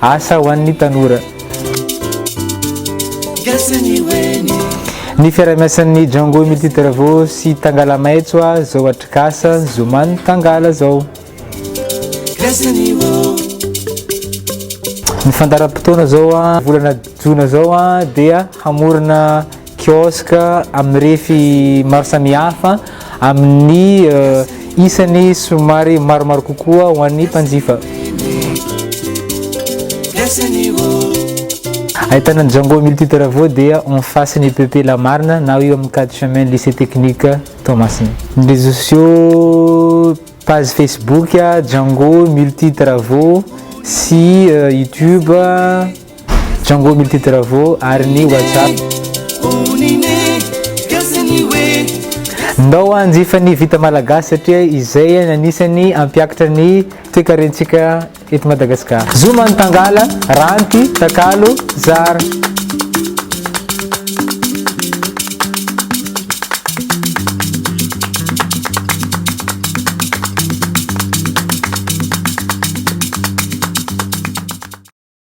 Asa ho an'ny tanora. Gasy ny weny. Ny fiaraha-miasan'ny Django Multi Travaux sy Tangala Maitso a zao atrikasa zoma ny Tangala zao. Gasy ny woo. Ny fandaharam-potoana zao a volana jona zao a dia hamorona kiosque amin'ny refy maro samihafa amin'ny isany somary maromaro kokoa ho an'ny mpanjifa. Ahitana ny Django Multitravaux dia en face ny PP La Marne na eo amin'ny quatre chemin ny lycée technique Toamasina. Ny réseaux sociaux, page Facebook Django Multitravaux sy YouTube. Django Multitravo ary ny WhatsApp. Ndao hanjifa ny vita malagasy satria izay no anisan'ny hampiakatra ny toekarentsika eto Madagasikara. Zoma ny tangala, ranty, takalo, zara.